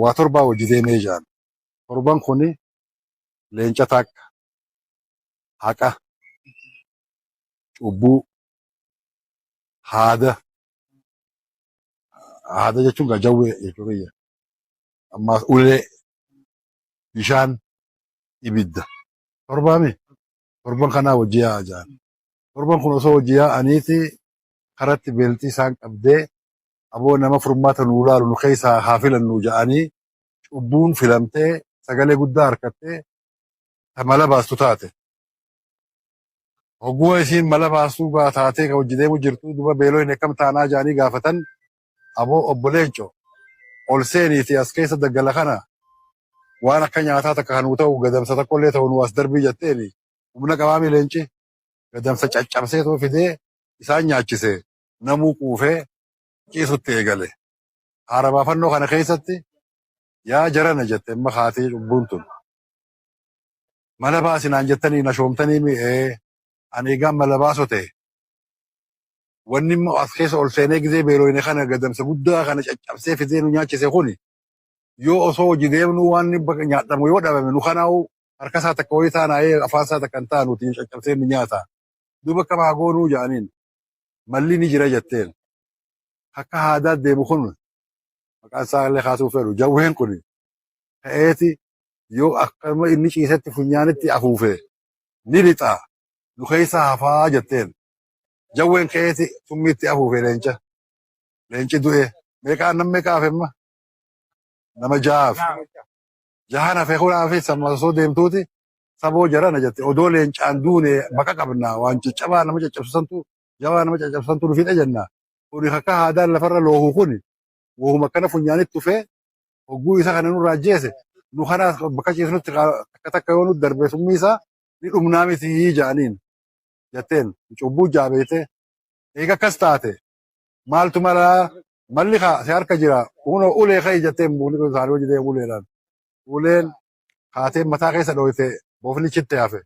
Waa torbaa wajji deemee jaan. Torban kuni leenca takka, haqa, cubbuu, haada, haada jechuun gaa jawwee jechuu kiyya. Ammaas ulee, bishaan, ibidda. Torbaami torban kanaa wajji yaa'a jaan. Torban kun osoo wajji yaa'aniiti karatti beeltii isaan qabdee aboo nama furmaata nuu laalu nu keessaa haa filannuu ja'anii cubbuun filamtee sagalee guddaa harkattee ta mala baastu taate. Hogguma isiin mala baastuu gaa taatee ka hojji deemu jirtu duba beeloyne akkam taanaa ja'anii gaafatan aboo obbo Leenco ol seeniiti as keessa daggala kana waan akka nyaataa takka kan nuu ta'u gadamsa takkollee ta'u nuu as darbii jetteeni humna qabaami leenci gadamsa caccabseetoo fidee isaan nyaachise. namuu quufee ciisutti eegale. Haara baafannoo kana keessatti yaa jarana jette imma kaatii cubbuun tun. Mala baasi naan jettanii na shoomtanii mi ee ani egaan mala baaso ta'e. Wanni immoo as keessa ol seenee gizee beelooyne kana gadamsa guddaa kana caccabsee fidee nu nyaachise kuni yoo osoo hojii deemnuu waan bakka nyaadhamu yoo dhabame nu kanaa'u harka isaa takka wayii taanaa'ee afaan isaa takka hin taanuuti caccabsee nu nyaata. Duuba akkam haa goonuu ja'aniin. malli ni jira jetteen akka haadaa deemu kun maqaan isaa illee kaasuu fedhu jawween kun ka'eeti yoo akkuma inni ciisetti funyaanitti afuufee ni lixaa nu keessa hafaa jetteen jawween ka'eeti summiitti afuufee leenca leenci du'ee meeqaa nam meeqaa hafemma nama jahaaf Jahan hafe kulaafis amma osoo deemtuuti saboo jarana jette odoo leencaan duune baqa qabna waan caccabaa nama caccabsisantu jabaa nama caccabsisantu nu fixe jenna. Kuni kakka haadaan lafarra loohu kuni wahuma akkana funyaanitti tufee hogguu isa kana nurraa ajjeese nu kanaas bakka ciisnutti kaa- takka takka yoo nu darbe summii isaa ni dhumnaa miti ja'aniin jetteen cubbuu jaabeeyte eega akkas taate maaltu malaa malli kaa si harka jira uno ulee ka'e jettee mukni kun isaanii hojii ta'e uleedhaan uleen kaatee mataa keessa dhooyte bofni chitte hafe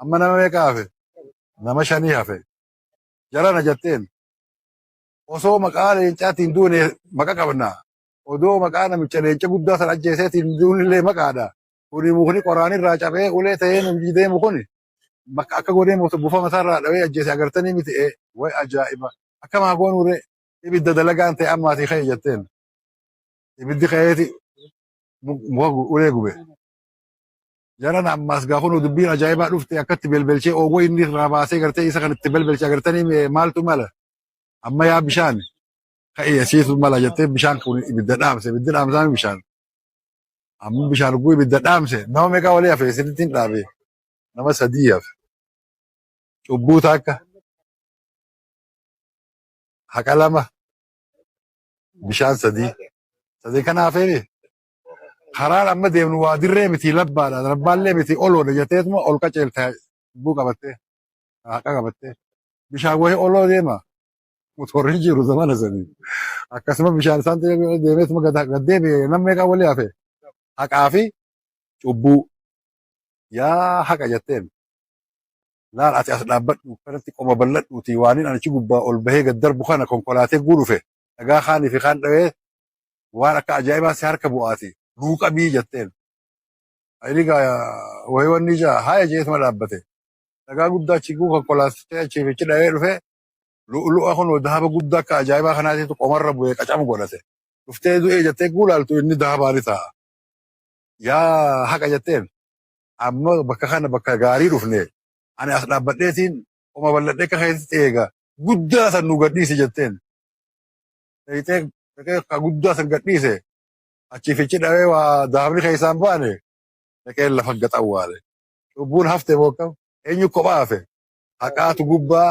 amma nama meeqa hafe nama shanii hafe jarana jetteen osoo maqaa leencaatiin duune maqa qabna odoo maqaa namicha leenca guddaa san ajjeeseetiin duunillee maqaadha Kuni mukni qoraan irraa cabee ulee ta'ee nu biyyi deemu kuni bakka akka godhee moota buufama isaa irraa dhawee ajjeese agartanii miti ee way ajaa'iba akkam haa goonuu ree ibidda dalagaan ta'e ammaatii ka'e jetteen ibiddi ka'eeti mu- muka gu- ulee gube jaran ammaas gaa kunu dubbiin ajaa'ibaa dhufte akkatti belbelchee oogoo inni irraa baasee gartee isa kan itti belbelche agartanii mee maaltu mala amma yaa bishaan ka'e asiitu mala jettee bishaan kun ibidda dhaamse ibiddi dhaamsaan bishaan Amma bishaan dhuguu ibidda dhaamse nama meeqaa walii hafe isinitti hin dhaabe nama sadii hafe cubbuu takka haqa lama bishaan sadii sadii kana hafeeni karaan amma deemnu waa dirree miti labbaadha labbaallee miti oloodha jetteetuma ol qaceelta cubbuu qabattee haqa qabattee bishaan wayii oloo deema motorri jiru zamana sanii akkasuma bishaan isaan deemeetuma gad deebi'e namni meeqaa walii hafe haqaa fi cubbuu yaa haqa jetteen laal ati as dhaabbadhu kanatti qoma bal'adhuuti waaniin anichi gubbaa ol bahee gad darbu kana konkolaatee guu dhufe dhagaa kaanii fi kaan dhawee waan akka ajaa'ibaa si harka bu'aati nuu qabii jetteen ayini gaa wayii wanni ijaa haaya jeetuma dhaabbate dhagaa guddaa achi guu konkolaatee achiif ichi dhawee dhufe Lu'ulu'a kunoo dahaba guddaa akka ajaa'ibaa kanaatiitu qomarra bu'ee qacam godhate. Dhuftee du'ee jettee egguu laaltu inni dahabaa ni ta'a. Yaa haqa jetteen amma bakka kana bakka gaarii dhufne ani as dhaabbadheetiin qoma bal'adhee akka keetitti eega guddaa san nu gadhiisi jetteen. Dhaqxee dhaqee ka guddaa san gadhiise achii fichi dhawee waa dahabni keessaan baane dhaqee lafa gaxawwaale. Cubbuun hafte moo akkam? Eenyu kophaa hafe? Haqaatu gubbaa